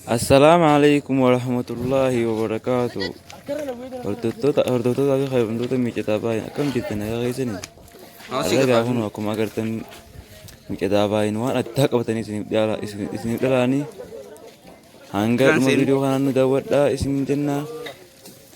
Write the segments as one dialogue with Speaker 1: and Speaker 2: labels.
Speaker 1: Assalaamu alaikum warahmatullaahi wabarakaatu Hordoftoota hordoftoota fi kabajamtoota miicataa baay'een akkam jirtan nagaa keessanii Har'a egaa kun akkuma agartan miicataa baay'een waan addaa qabatanii isiniif dhiyaala isiniif dhalaanii hanga dhuma viidiyoo kanaan nu daawwadhaa isin jennaa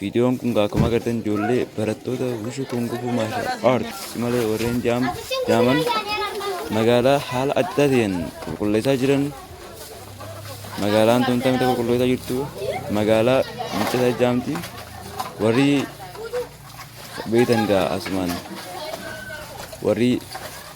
Speaker 1: Viidiyoon kun akkuma agartan ijoollee barattoota wushu kungufuu maashaal aarts malee warreen jaaman magaalaa haala adda ta'een qulqulleessaa jiran magaalaan tun tamte qulqulleessaa jirtu magaalaa miccata jaamti warri beektan gaa asumaan warri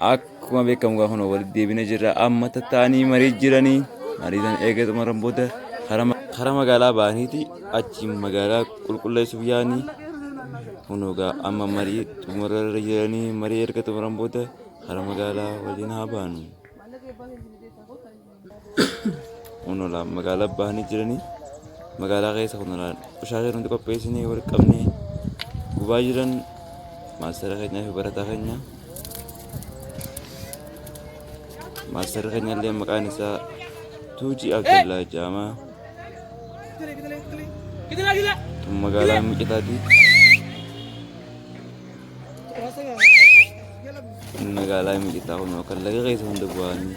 Speaker 1: Akkuma beekamu gaa kun walitti deebina jirra. Amma tattaanii marii jiranii marii sana eega xumuran booda karaa magaalaa ba'aniiti achiin magaalaa qulqulleessuuf yaa'anii kun egaa amma marii xumurarra jiranii marii erga xumuran booda karaa magaalaa waliin haa baanu. Onolaan magaalaa bahanii jiranii magaalaa keessa onolaan qoshaasaa nuti qopheessinee wal qabnee gubaa jiran maastara keenyaa fi barataa keenya maastara keenya illee maqaan isaa Tuujii Abdallaa Jaamaa tun magaalaa Miqitaati magaalaa Miqitaa kun kan laga keessa hunda bu'anii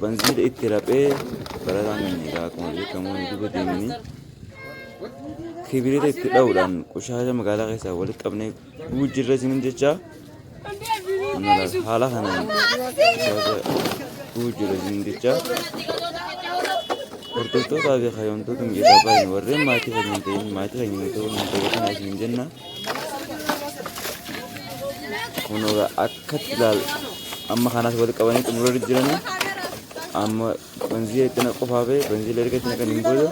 Speaker 1: Banziila itti raphee barataan keenya egaa akkuma beekamu duuba deemanii kibirita itti dha'uudhaan qoshaasha magaalaa keessaa walitti qabnee dhuguu jirra isinin jecha haala kanaan qoshaasha dhuguu jirra isinin jecha hordoftootaa fi kaayyoomtoota miidhagaa baay'een warreen maatii keenya hin ta'in maatii keenya hin ta'uu hin ta'in isinin jenna. Kun egaa akkatti ilaal amma kanas wal qabanii xumura jiranii amma banzii itti na qofaa bee banzii erga itti naqan hin booda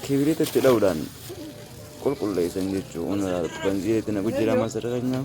Speaker 1: kibiriita itti dha'uudhaan qulqulleessan jechuun banzii itti naqu jira masarra keenyaa.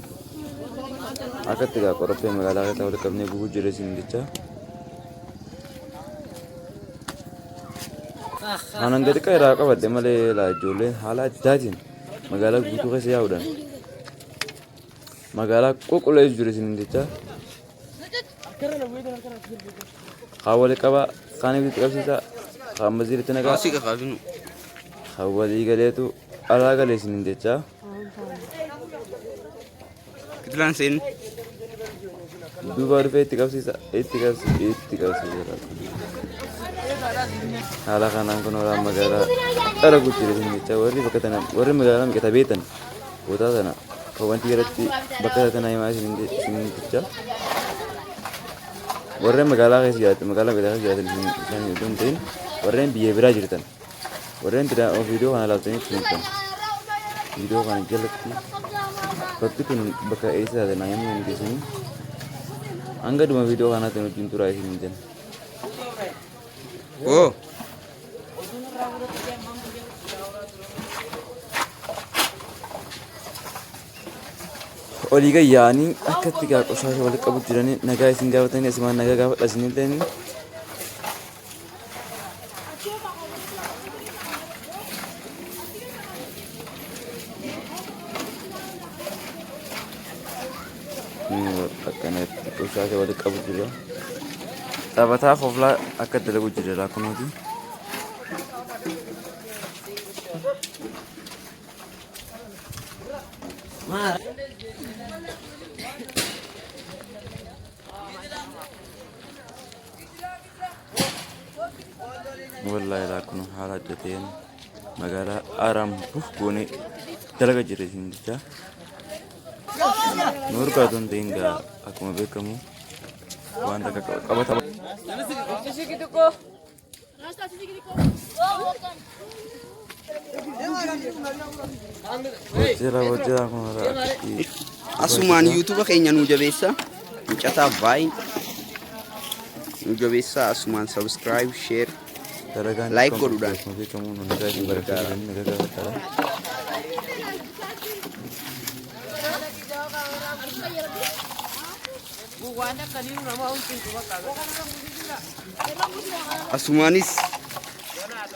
Speaker 1: Akkatti egaa qorophee magaalaa keessaa walitti qabnee gubuu jirre isin jecha. Aanan gadi xiqqaa irraa qabadde malee laa ijoolleen haala addaatiin magaalaa guutuu keessa yaa'uudhaan magaalaa qulqulleessu jiru isin jecha. Haa wali qabaa, kaan ibsitti qabsiisaa, kaan maziiritti nagaa, Asii kakaasin. haa walii galeetu alaa galee isin jecha. Kitilaan seen. Duuba dhufee itti qabsiisa. Itti qabsiisa. Itti qabsiisa. Haala kanaan kun waraan magaalaa dhala guddina dinnicha warri bakka tana warri magaalaa miqata beetan bootaa tana kan wanti irratti bakka tana himaa isiniticha warreen magaalaa keessa jiraatan magaalaa miqataa keessa jiraatan isin isin iddoo hin ta'in warreen biyya biraa jirtan Warreen biraa oo viidiyoo kana ilaaltaniif kunuunsan. Viidiyoo kana jalatti bakki tun bakka eessa taate naa himuu dandeessanii. Hanga dhuma viidiyoo kanaatti nu wajjin turaa isin hin jenna. Oo! olii gayyaanii akka itti gaa qoshaasha walitti qabu jiranii nagaa isin gaafatanii asimaan nagaa gaafadha isin hin ta'in akkanatti dhushaa kee walitti qabu jira. Taphataa koflaa akka dalagu jira laakunooti. Wallahi laa kun haala adda ta'een magaalaa Aaraam buuf goonee dalaga jirre isin jecha. Nu urgaatu hin ta'in gaa akkuma beekamu waan takka qabata. Bojjira bojjira kun rakkii.
Speaker 2: Asumaan yuutuuba keenya nu jabeessa. Mucataa baay'ee nu jabeessa. Asumaan sabiskiraayib, sheer. Dalagaan Like kan godhuudhaan. beekamu beekamu nu nagaa isin
Speaker 1: barakee jiranii nagaa gaafadhaa.
Speaker 2: Asumaanis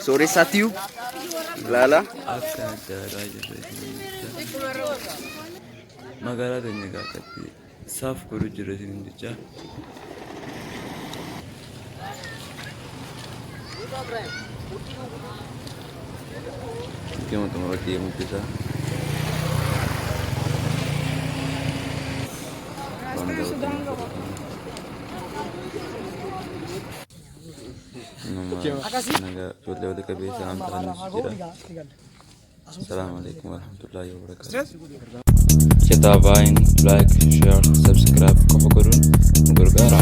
Speaker 2: Sooressaa tiyuu laala. Akka adda addaa jirre
Speaker 1: magaalaa keenya gaafatti saaf godhu jirre isin jecha. Gama xumura deemu jira. Waan gaafatan. Nama nagaa ijoollee walitti qabeessa waan ta'aniif jedha. Salaamu alaikum warahmatullahi wabarakatuh. Kitaabain like, share, subscribe qofa godhuun nu gargaara.